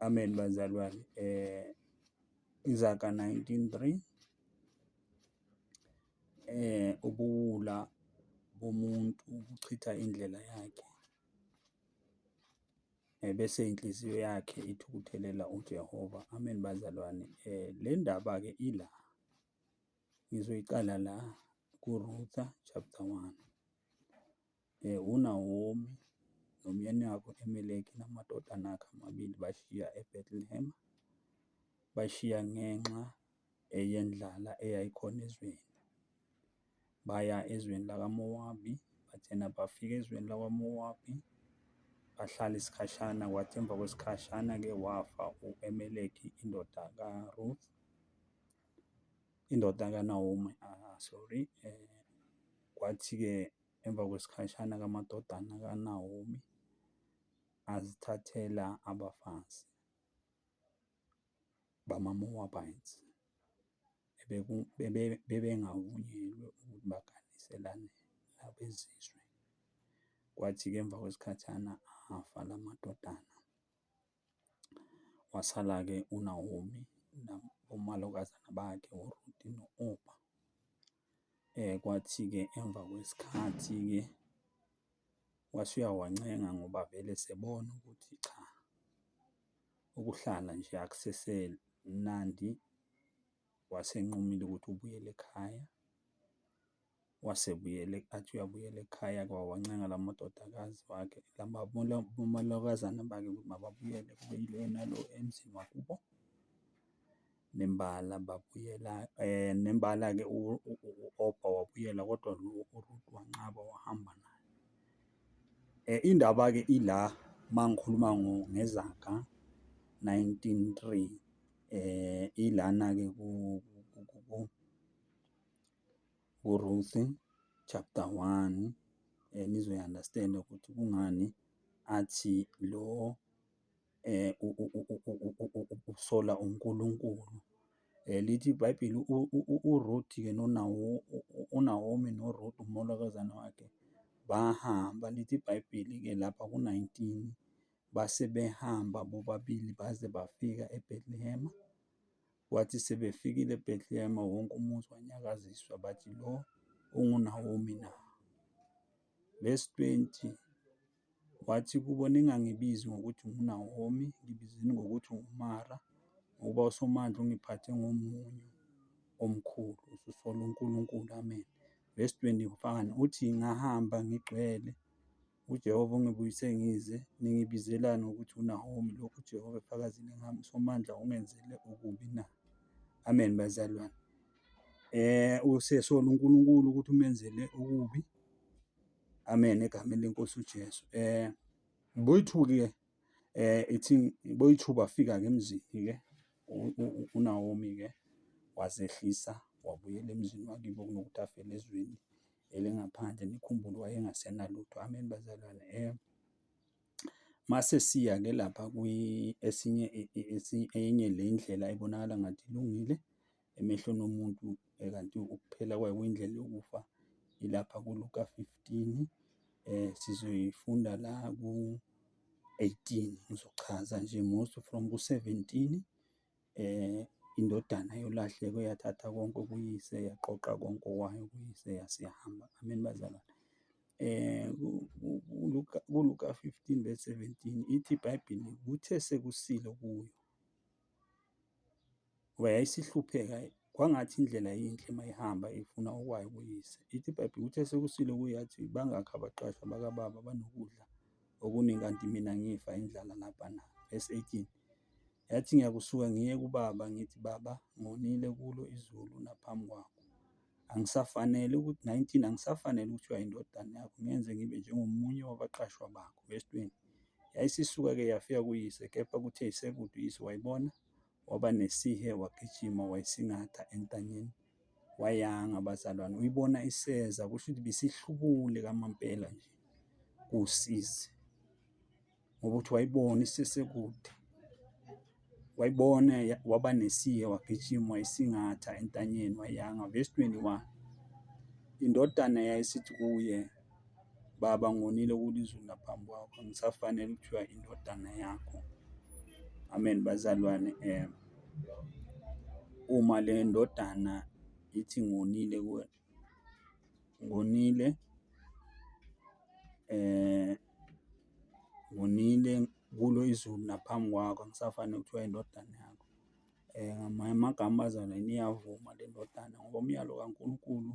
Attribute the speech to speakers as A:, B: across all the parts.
A: Amen bazalwane. Eh Izaga 19:3 eh ubuwula bomuntu buchitha indlela yakhe eh, bese inhliziyo yakhe ithukuthelela uJehova. Amen bazalwane. Eh le ndaba-ke ila ngizoyiqala la kuRutha chapter 1. UNawomi nomyeni wakhe u-Elimeleki namadodana akhe amabili bashiya iBethlehema, bayishiya ngenxa yendlala eyayikhona ezweni. Baya ezweni lakaMowabi, bathena bafika ezweni lakwaMowabi, bahlala isikhashana, kwathi emva kwesikhashana-ke wafa u-Elimeleki indoda kaRuth, indoda kaNawomi, sorry. Kwathi-ke. Emva kwesikhashana ke amadodana kaNawomi azithathela abafazi bamaMowabites bebengavunyelwe ukuthi baganiselane nabezizwe. Kwathi-ke emva kwesikhashana afa la madodana. Wasala-ke uNawomi omalokazana bakhe uRuthe no-Opa. Kwathi-ke emva kwesikhathi-ke wase uyawancenga ngoba vele esebona ukuthi cha, ukuhlala nje akusese mnandi. Wase enqumile ukuthi ubuyele ekhaya. wasebuyela athi uyabuyela ekhaya kwawancenga la madodakazi wakhe omalokazana bakhe ukuthi mababuyele kube yilo nalo emzini wakubo. Nembala babuyela nembala-ke u-Obba wabuyela kodwa lo uRuth wanqaba wahamba naye. Indaba-ke ila uma ngikhuluma ngezaga nineteen three ilana-ke kuRuth chapter 1 eh nizoyunderstanda ukuthi kungani athi lo eh usola uNkulunkulu eh lithi iBhayibheli uRuth ke nonawo uNaomi noRuth umolokazana wakhe bahamba lithi iBhayibheli ke lapha ku-19 base behamba bobabili baze bafika eBethlehem Kwathi sebefikile eBhetlehema, wonke umuzi wanyakaziswa, bathi, Lo unguNawomi na? Vesi 20, Wathi kubo, Ningangibizi ngokuthi nguNawomi, ngibizeni ngokuthi nguMara, ngokuba uSomandla ungiphathe ngomunyu omkhulu, ususola uNkulunkulu. Amen. Vesi 21, Uthi, Ngahamba ngigcwele UJehova ungibuyise ngize, ningibizelani ngokuthi uNahomi, lokhu uJehova efakazile ngami, uSomandla ungenzele okubi na? Amen, bazalwane. Eh, usesola uNkulunkulu ukuthi umenzele okubi. Amen, egameni lenkosi uJesu. Eh, boyithuki-ke eh ithi boyithuba afika-ke emzini-ke uNawomi-ke wazehlisa wabuyela emzini wakibo kunokuthi afele ezweni elingaphandle nikhumbule wayengasenalutho. Amen bazalwane. Eh mase siya ke lapha kwi esinye enye le ndlela ebonakala ngathi ilungile emehlweni omuntu eh, kanti ukuphela kwayo kwindlela yokufa ilapha kuLuka 15 eh sizoyifunda la ku 18 ngizochaza nje most from ku 17 indodana yolahleko yathatha konke okuyise, yaqoqa konke okwayo kuyise yase yahamba. Amen bazalwane. ULuka, kuLuka fifteen verse seventeen, ithi iBhayibheli, kuthe sekusile kuyo ngoba yayisihlupheka, kwangathi indlela yinhle uma ihamba ifuna okwayo kuyise. Ithi iBhayibheli, kuthe sekusile kuyo yathi, bangakhi abaqashwa bakababa abanokudla okuningi, kanti mina ngifa indlala lapha na? Verse eighteen. Yathi, Ngiyakusuka ngiye kuBaba, ngithi, Baba, ngonile kuLo izulu naphambi kwaKho. Angisafanele ukuthi, 19, angisafanele ukuthiwa yindodana yaKho, ngenze ngibe njengomunye wabaqashwa baKho. Vesi 20. Yayisisuka-ke yafika kuyise, kepha kuthe isekude uyise wayibona, waba nesihe, wagijima, wayisingatha entanyeni, wayanga, bazalwane. Uyibona iseza, kusho ukuthi bisihlubule kamampela nje, kusizi. ngoba uthi wayibona isesekude wayibona waba nesihe wagijima wayisingatha entanyeni wayanga verse 21 indodana yayisithi kuye baba ngonile kulizulu naphambi kwakho ngisafanele ukuthiwa indodana yakho amen bazalwane um uma le ndodana ithi ngonile kuwena ngonile ngonile kulo izulu naphambi kwakho angisafani nokuthiwa indodana yakho. Ngamanye amagama abazali ayini iyavuma le ndodana ngoba umyalo kaNkulunkulu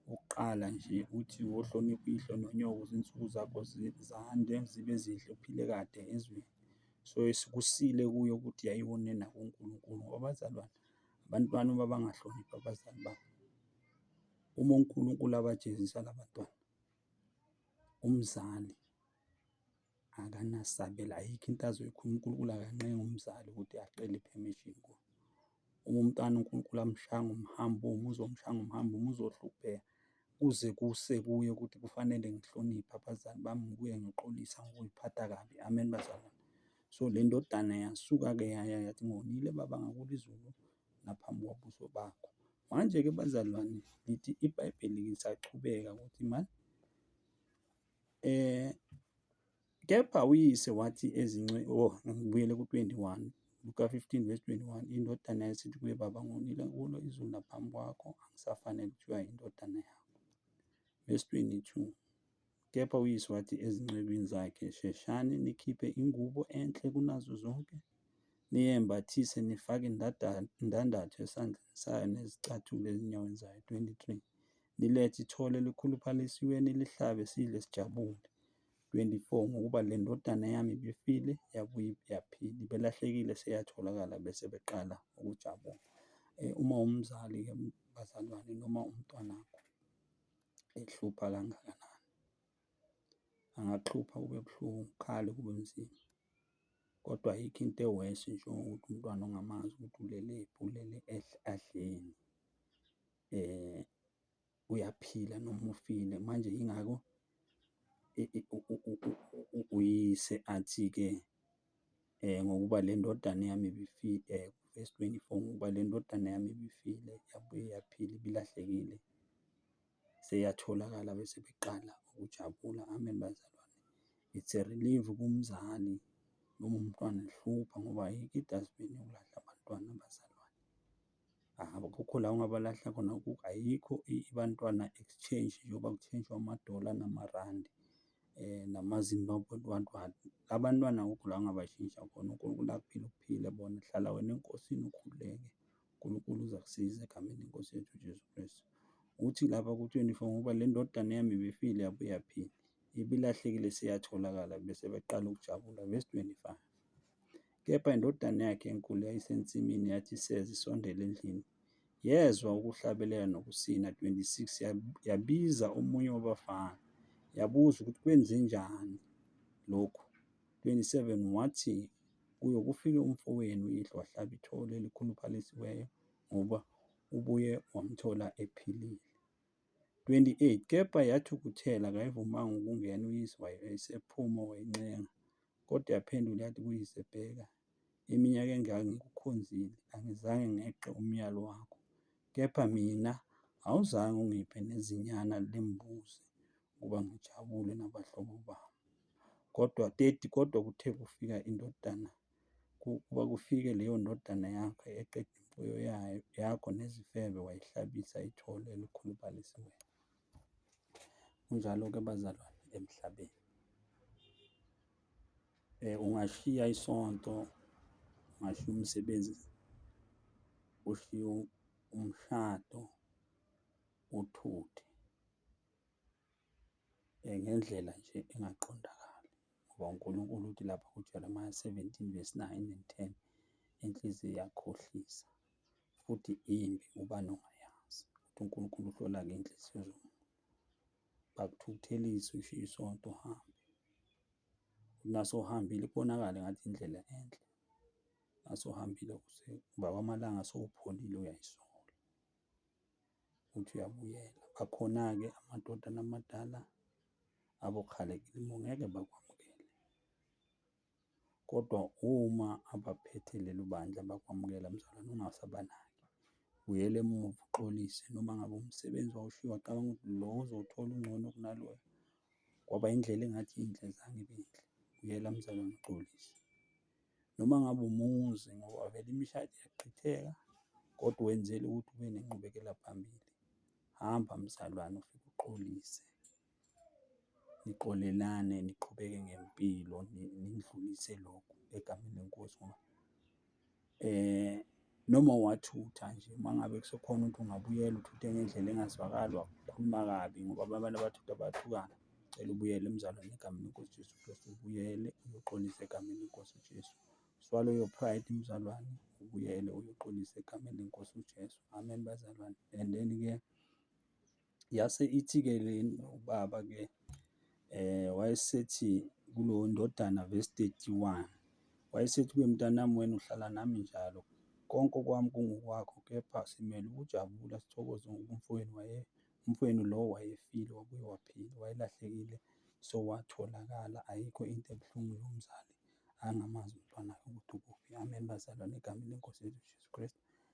A: wokuqala nje uthi wohlonipha uyihlo nonyoko ukuze izinsuku zakho zande zibe zinhle uphile kade ezweni. So, kusile kuye ukuthi ayiwe unina kuNkulunkulu ngoba abazalwane. Abantwana uma bangahloniphi abazali babo, uma uNkulunkulu abajezisa la bantwana, umzali akanasabelo, ayikho into azoyikhuluma. UNkulunkulu akanqengi umzali ukuthi acele i-permission kuye. Uma umntwana uNkulunkulu amshaya ngomhambo womuzwa, uzomshaya ngomhambo womuzwa, uzohlupheka kuze kuse kuye ukuthi kufanele ngihloniphe abazali bami, ngibuye ngixolise angikuyiphatha kabi. Amen, bazalwane. So, le ndodana yasuka-ke yaya yathi, Ngonile baba, ngakulo izulu naphambi kobuso bakho. Manje-ke bazalwane, lithi iBhayibheli lisaqhubeka ukuthi mani um kepha uyise wathi ezince o oh, ngibuyele ku-21 Luka 15 verse 21 indodana yasithi kuye baba ngonile kulo izulu naphambi kwakho angisafanele kuthiwa yindodana yakho verse 22 Kepha uyise wathi ezincekwini zakhe, Sheshani nikhiphe ingubo enhle kunazo zonke, niyembathise, nifake indandatho esandleni sayo nezicathulo ezinyaweni zayo, 23 nilethe ithole elikhuluphalisiwe nilihlabe, sidle sijabule, 24 ngokuba le ndodana yami ibifile yabuye yaphila, ibelahlekile seyatholakala, bese beqala ukujabula. Eh, uma umzali-ke bazalwane noma umntwanakho ehlupha kangakanani. Angaxhupha kube buhlungu, kukhale kube nzima, kodwa ayikho into e-worse njengokuthi umntwana ongamazi ukuthi ulelephi, ulele adleni, uyaphila noma ufile. Manje yingakho uyise athi-ke. ngokuba le ndodana yami ibifile, verse 24, ngokuba le ndodana yami ibifile yabuye yaphila, ibilahlekile seyatholakala, bese beqala ukujabula. Amen, bazalwane. It's a relief kumzali noma umntwana ehlupha ngoba hheyi, it has been ukulahla abantwana, bazalwane. Akukho la ungabalahla khona, ayikho iBantwana Exchange njengoba kuthenjwa amadola namarandi namaZimbabwe rand rand. La bantwana akukho la ongabashintsha khona, uNkulunkulu akuphile uphile bona. Hlala wena eNkosini ukhululeke, uNkulunkulu uzakusiza egameni leNkosi yethu uJesu Kristu. Ukuthi lapha ku-twenty-four ngoba le ndodana yami ibifile yabuye yaphila, ibilahlekile seyatholakala bese beqala ukujabula ngezi-twenty-five. Kepha indodana yakhe enkulu eyayisensimini yathi iseza isondela endlini, yezwa ukuhlabelela nokusina, 26 yabiza omunye wabafana, yabuza ukuthi kwenzenjani lokhu, 27 wathi kuyo kufike umfowenu uyihlo wahlaba ithole elikhuluphalisiweyo ngoba ubuye wamthola ephilile. 28 kepha yathukuthela kayivumanga ukungena uyise wayo esephuma wayincenga kodwa yaphendula yathi kuyise bheka iminyaka engaka ngikukhonzile angizange ngeqe umyalo wakho kepha mina awuzange ungiphe nezinyana lembuzi ukuba ngijabule nabahlobo bami kodwa 30 kodwa kuthe kufika indodana ukuba kufike leyo ndodana yakho eqeda imfuyo yayo, yakho nezifebe wayihlabisa ithole elikhuluphalisayo. Kunjalo-ke bazalwane emhlabeni. Ungashiya isonto, ungashiya umsebenzi, ushiye umshado uthuthe. Ngendlela nje engaqondakali ngoba uNkulunkulu uthi lapha kuJeremiya seventeen verse nine and ten, inhliziyo iyakhohlisa futhi imbi ubani ongayazi ukuthi uNkulunkulu uhlola-ke iy'nhliziyo zomuntu. Bakuthukuthelise ushiye isonto uhambe, uthi nase uhambile kubonakale ngathi indlela enhle, nase uhambile uze uba amalanga sewupholile uyayisola. ukuthi uyabuyela. Akhona-ke amadoda namadala abokhalekile ngeke bakwamukele. Kodwa uma abaphethe lelo bandla bakwamukela mzalwane ungasabanaki. Buyela emuva uxolise noma ngabe umsebenzi wawushiya wacabanga ukuthi lo ozowuthola ungcono kunaloyo, kwaba indlela engathi inhle zange ibe yinhle. Buyela mzalwane uxolise. noma ngabe umuzi ngoba vele imishado iyachitheka kodwa wenzela ukuthi ube nenqubekela phambili. Hamba mzalwane ufike uxolise, nixolelane niqhubeke ngempilo nidlulise lokhu egameni leNkosi ngoba . Noma uwathutha nje uma ngabe kusekhona ukuthi ungabuyela uthuthe ngendlela engazwakali wakhuluma kabi ngoba abanye abantu abathutha bayathukana. Ngicela ubuyele emzalwane egameni lenkosi uJesu Kristu, ubuyele uyoxolisa egameni lenkosi uJesu. Swallow your pride mzalwane, ubuyele uyoxolisa egameni lenkosi uJesu. Amen bazalwane. And then-ke Yase ithi-ke le ubaba-ke wayesethi kulo ndodana verse 31, wayesethi kuye, mntanami wena uhlala nami njalo, konke okwami kungokwakho, kepha simele ukujabula sithokoze ngoba umfowenu waye, umfowenu lo wayefile wabuye waphila, wayelahlekile sowatholakala, ayikho into ebuhlungu lo mzali angamazi umntwana wakhe ukuthi ukuphi. Amen, bazalwane egameni leNkosi yethu uJesu Kristu.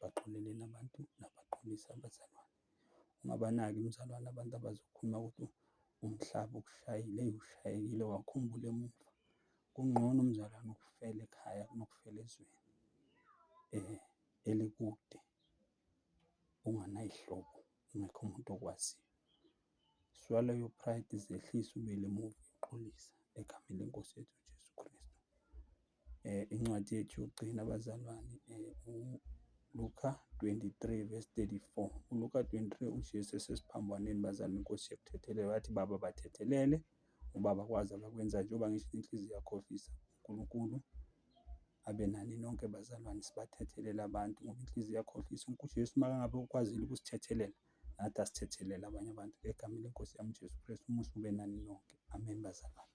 A: baxolele nabantu nabaxolise abazalwane. Ungabanaki umzalwane abantu abazokhuluma ukuthi umhlaba ukushayile, eyi ushayekile wakhumbula emuva. Kungcono umzalwane ukufela ekhaya kunokufela ezweni elikude unganay'hlobo, ungekho muntu okwaziyo. Swallow your pride, zehlise uwele emuva uyoqolisa egameni lenkosi yethu uJesu Kristu. Eh, incwadi yethu yokugcina abazalwane eh, Luka 23 verse 34 uLuka 23 uJesu esesiphambanweni bazalwane inkosi yekuthethelele wathi baba bathethelele ubaba kwazi abakwenza njengoba ngisho inhliziyo yakhohlisa uNkulunkulu abe nani nonke bazalwane sibathethelele abantu ngoba inhliziyo yakhohlisa uJesu makangabe ukwazile ukusithethelela nathi asithethelele abanye abantu egameni leNkosi yami uJesu Kristu, umusa ube nani nonke. Amen bazalwane.